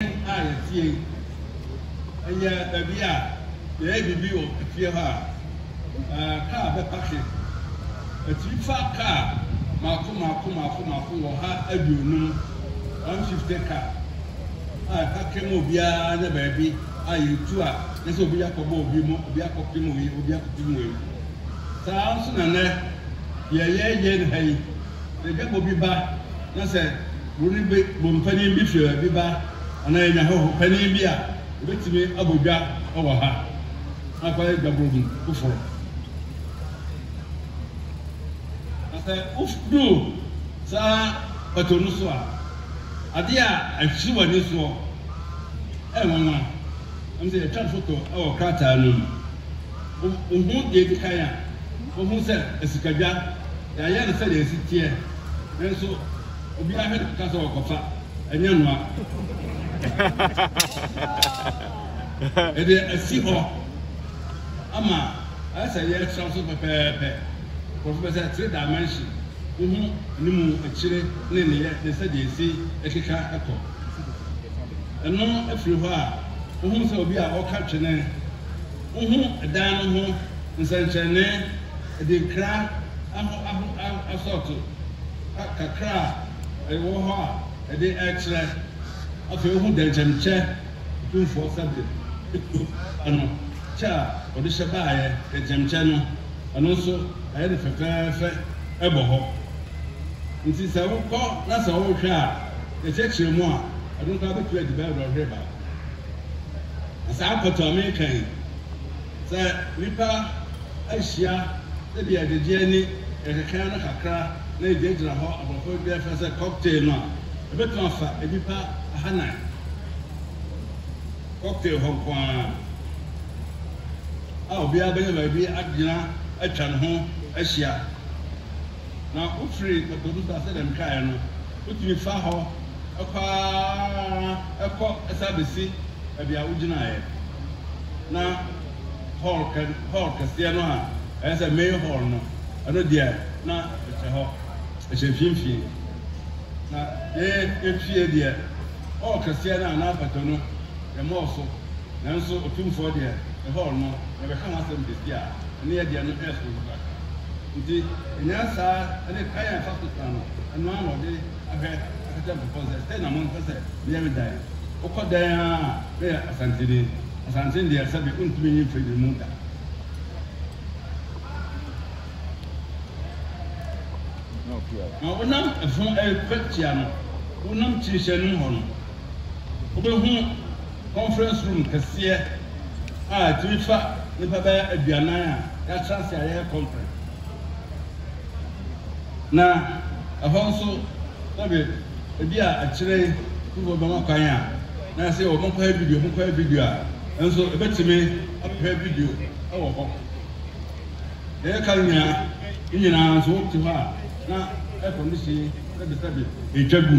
a yɛteɛ yi, ɛyɛ baabi a yɛyɛ biribi wɔ efie hɔ a, ɛɛ, kaa bɛpake. Ɛtumi fa kaa mmaako mmaako mmaako mmaako wɔ ha aduonum, one fifty car, a ɛpake ma obiara anya baabi a yɛtu a yɛ sɛ obi akɔbɔ obi mu, obi akɔpem wei, obi akɔpem wei. Saa ara nso na nnɛ deɛ yɛyɛ no ha yi. Sɛ dwabɔ bi ba na sɛ kuro no bi bom panin bi firi baabi ba anaa yɛnya hɔho panin bi a, ɔbɛtumi abɔ dwa wɔ ha na akɔyɛ dwabɔ bi foforɔ. Na sɛ woduru saa bato no so a, adeɛ a ɛhye w'ani soɔ yɛ nwanwa. Ɛwom sɛ yɛtwa foto wɔ krataa no mu, wuhu nea edi kan a, wuhu sɛ asikadwa, yɛayɛ no sɛnea esi teɛ, nanso obiara hwɛ no kɔka sɛ ɔrekɔfa, ɛnyɛ noa. Yɛde asi hɔ ama ayɛ sɛ yɛresra so pɛpɛɛpɛ. Nkurɔfo pɛ sɛ three dimension, wohu anim, akyire, ne nneyɛe ne sɛnea esi keka kɔ. Ɛno firi hɔ a, wohu sɛ obi a ɔka twene. Wohu dan no ho nsɛnkyerɛnne, adinkra aho aho asɔɔto kakra a ɛwɔ hɔ a ɛde rekyerɛ. Afei wohu dɛnkyɛmkyɛ tumfoɔ sɛbe kuo ba no kyɛ a ɔde hyɛ baeɛ, dɛnkyɛmkyɛ no, ɛno nso ayɛ no fɛfɛɛfɛ bɔ hɔ. Enti sɛ wokɔ na sɛ worehwɛ a, yɛkyerɛkyerɛ mu a, ɛno koraa bɛtumi adi bɛyɛ dɔnhwere baako. Na saa mpɔtam a mereka yi, sɛ nnipa ahyia sɛdeɛ yɛgyegye ani, yɛkeka yɛn ano kakra na yɛgyinagyina hɔ, aborɔfo de ɛfrɛ sɛ cocktail no a, yɛbɛtumi afa nnipa ahanan. Cocktail hɔ nko ara a obiara bɛnya baabi agyina atwa ne ho ahyia. na wofiri ɛpo no so a, sɛdeɛ mekaeɛ no, wotumi fa hɔ kɔ ara kɔ san bɛsi baabi a wogyinaeɛ, na hɔl kɛ hɔl kɛseɛ no a ɛyɛ sɛ main hɔl no, ɛno deɛ na ɛhyɛ hɔ, ɛhyɛ mfimfini. Na yɛn yɛn fie deɛ, hɔl kɛseɛ no a na apato no, yɛmmɔɔ so, nanso Otumfoɔ deɛ, ne hɔl no, yɛbɛka ho asɛm kɛsi a, ɛno yɛ deɛ no ɛyɛ soronko kakra. Ntsi nyansa ne kwan a yɛfa so tsena no, ɔno ara na ɔdze ahwɛ aka kyerɛ nkorɔfo no dɛ, sei na monsɛ sɛ meyɛ me dan. Wokɔ dɛn ara a, meyɛ Asanteni. Asanteni deɛ, sɛbe wontumi nyi mfiri no mu da. Na wonam fam rekɔ atia no, wonam kyinhyɛn no mu hɔ no, wobɛhu. conference room kɛseɛ a ɛtumi fa nnipa bɛyɛ aduanan a yɛatra ase a yɛyɛ conference. Na ɛhɔ nso sɛbe ebi a akyire yi sukuufoɔ bɛma kwan a na yɛse wɔn nkɔyɛ video, wɔn nkɔyɛ video a nso ɛbɛtumi ahwɛ video wɔ hɔ. Deɛ yɛka no nyinaa ne nyinaa nso wote hɔ a na air condition sɛbe sɛbe ɛretwa gu.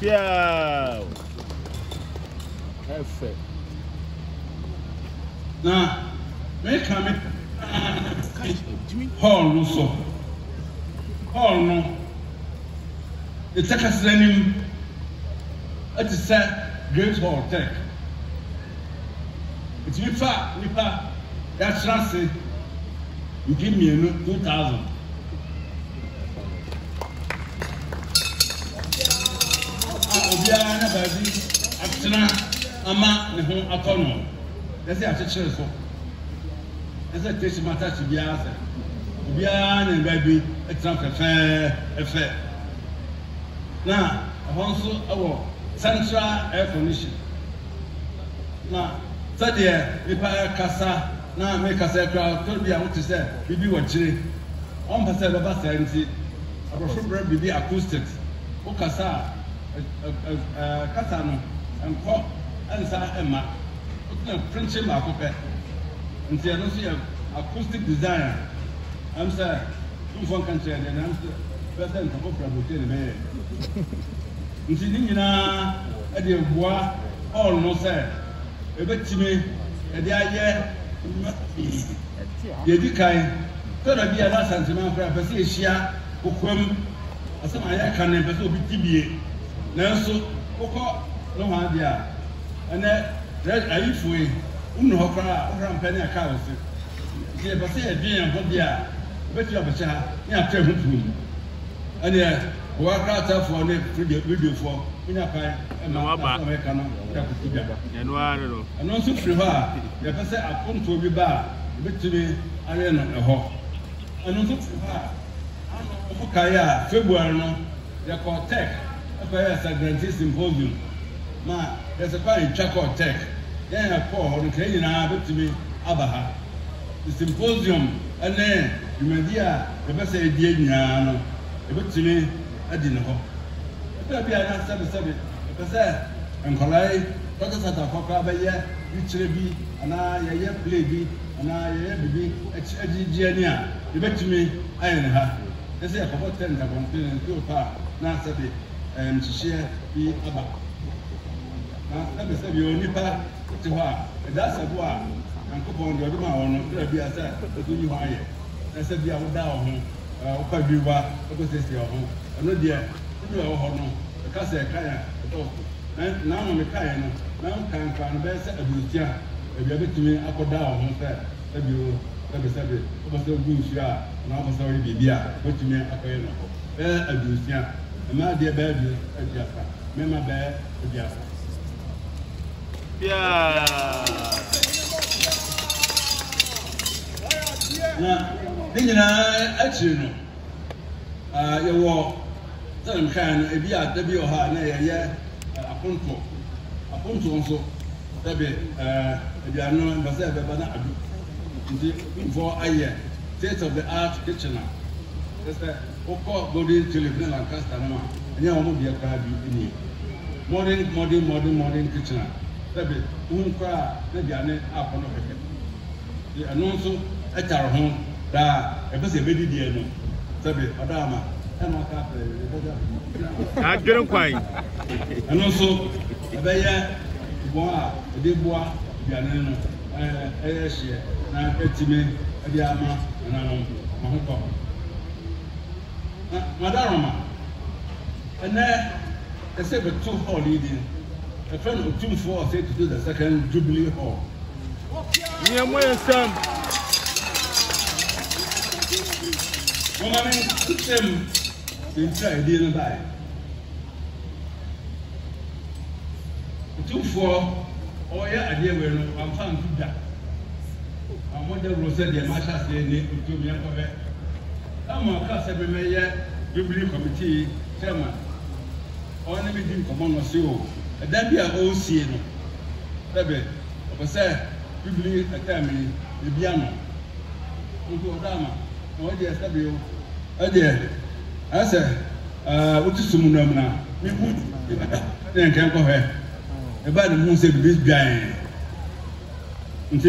Piaw! Ɛfɛ. Na meka me hall no so. Hall no, ne takasra anim te sɛ Great Hall Turk. Ɛtumi fa nnipa de akyerɛ ase mfe mmienu, 2000. obiara na baabi atena ama ne ho atɔ no na sɛ akyekyere so na sɛ tesi ma tasi biara sɛ obiara na baabi atena fɛfɛɛfɛ na ɛhɔ nso wɔ central air condition na sɛdeɛ nipa kasa na meka sɛ koraa ɔtɔ bi a wote sɛ biribi wɔ akyire. Ɔmpɛ sɛ ɛbɛba saa nti, aborɔfo brɛ biribi acoustics. Wokasa a, ɛ-ɛ-ɛ kasa no nkɔ nsa mma. Wotena prinkyim baako pɛ. Nti ɛno nso yɛ acoustic design a ɛm sɛ tumfoɔ nka nkyerɛɛ deɛ na ɛm sɛ ɛbɛyɛ sɛ nka kɔfra botire na ɛbɛyɛɛ. Nti ne nyinaa ɛdeɛ boa Paul no sɛ. Yɛbɛtumi de ayɛ nnwuma pii. Deɛ ɛdi kan, sɛ da bi a na Asante man koraa pɛ sɛ yɛhyia kokoam, asɛm a yɛreka no yɛmpɛ sɛ obi te bie. Nanso wokɔ nohoa deɛ a, ɛnnɛ prɛs ayifo yi, wonni hɔ koraa a, wohora mpɛ ne ɛka wo se. Nti yɛpɛ sɛ yɛdwen yɛn ho deɛ a, yɛbɛtumi abɛhyɛ ha ne yɛatɔ ɛho puu. Ɛnneɛ. Boa kratafoɔ ne radiofoɔ ma nya kwan ma asɛm a wɔreka no da kosi da. Ɛno nso firi hɔ a yɛpɛ sɛ apontoɔ bi ba a yɛbɛtumi awe no ɛhɔ. Ɛno nso firi hɔ a ano mokae a February no yɛkɔɔ Turk kɔyɛɛ Sagrantee Symposium ma yɛsɛ kwan a yɛtwa kɔɔ Turk. Yɛn a yɛkɔɔ hɔ no nka yɛn nyinaa bɛtumi aba ha. Symposium ne dwumadie a yɛpɛ sɛ yɛdie nyinaa no Obetumi adi ne hɔ. Ebia bi a na sɛbesɛbe ɔpɛ sɛ nkwadaa yi, tɔtɔtɔtɔfoɔ koraa bɛyɛ yikyerɛ bi anaa yɛyɛ play bi anaa yɛyɛ biribi akyi agye gye ani a, yɛbɛtumi ayɛ no ha. Yɛ sɛ yɛkɔbɔ tent abɔnten no nti opa a, na sɛbe ɛɛ nhyehyeɛ bi aba. Na sɛbesɛbe yɛwɔ nnipa te hɔ a, ɛdaasa bo a Nyankopɔn deɛ ɔde maa wɔn no, berɛ bi a sɛ wobɛyi hɔ ayɛ. Ɛsɛ bi a woda wɔ ho a ɔpa dwiri wa kɔsiesie wo ho. Ɛno deɛ, wo nua a ɔwɔ hɔ no bɛka sɛ ɛkan a ɛdɔɔso. Na na ma mekaeɛ no, na nkan koraa no bɛyɛ sɛ aduosia. Ebia bɛtumi akɔda wo ho sɛ sɛbi o, sɛbi sɛbi. Wopɛ sɛ wogu nsuo a, anaa wopɛ sɛ woyɛ biribi a, wobɛtumi akɔyɛ no hɔ. Bɛyɛ aduosia. Mmaa deɛ bɛyɛ aduasa, mmarima bɛyɛ aduasa. Biara. Na ne nyinaa akyiri no, ah, yɛwɔ, sɛdeɛ mekaeɛ no, ebi a da bi wɔ hɔ a na yɛyɛ eh, apontoɔ. Apontoɔ nso, dabi, eh, aduane no ɛmpɛ sɛ ɛbɛba na adu. Nti Kumfoɔ ayɛ state of the art kitchen a, kyerɛ sɛ wokɔ Golden Tulip ne Lancaster nom a, ɛnyɛ wɔn deɛ koraa bi nie. Modern, modern, modern, modern kitchen a, dabi, wohu koraa a na aduane akɔ no kɛkɛ. de ɛno nso ɛtare ho daa ɛpɛ sɛ ɛbɛdi deɛ no sɛbe ɔda ama ɛna ɔka afɛ ɛbɛgya adwene kwan ɛno nso ɛbɛyɛ wɔn a ɛde boa aduane no ɛyɛ hyeɛ na ɛtumi ɛde ama nananom ma ho kɔ madaroma ɛnɛ ɛsɛ bɛto hall yi din ɛfɛ no otumfoɔ ɔsɛ to the second jubilee hall Nea mo nsam. Wɔma me nkɔmhyɛm nti a edin no bae. Otumfoɔ ɔyɛ adeɛ wei no wamfa anto da. Wammɔ dawuro sɛ deɛ mahyɛ aseɛ nni ntom yɛnkɔ hwɛ. Samuel kaa sɛ memmɛyɛ Jubilee Committee Chairman. Ɔne me di nkɔmmɔ na ɔse o, ɛdan bi a ɔresie no, sɛbe. Ɔpɛ sɛ Bibli ɛtam yi ebi ama wo nso ɔda ama na ɔyɛ deɛ sɛbe o. Ɛdeɛ ayɛ sɛ wo te sum no mu na me hu bi bɛda sɛdeɛ nka ɛnkɔ hwɛ. Ɛbaa ne mu hu sɛ biribi dwaee nti.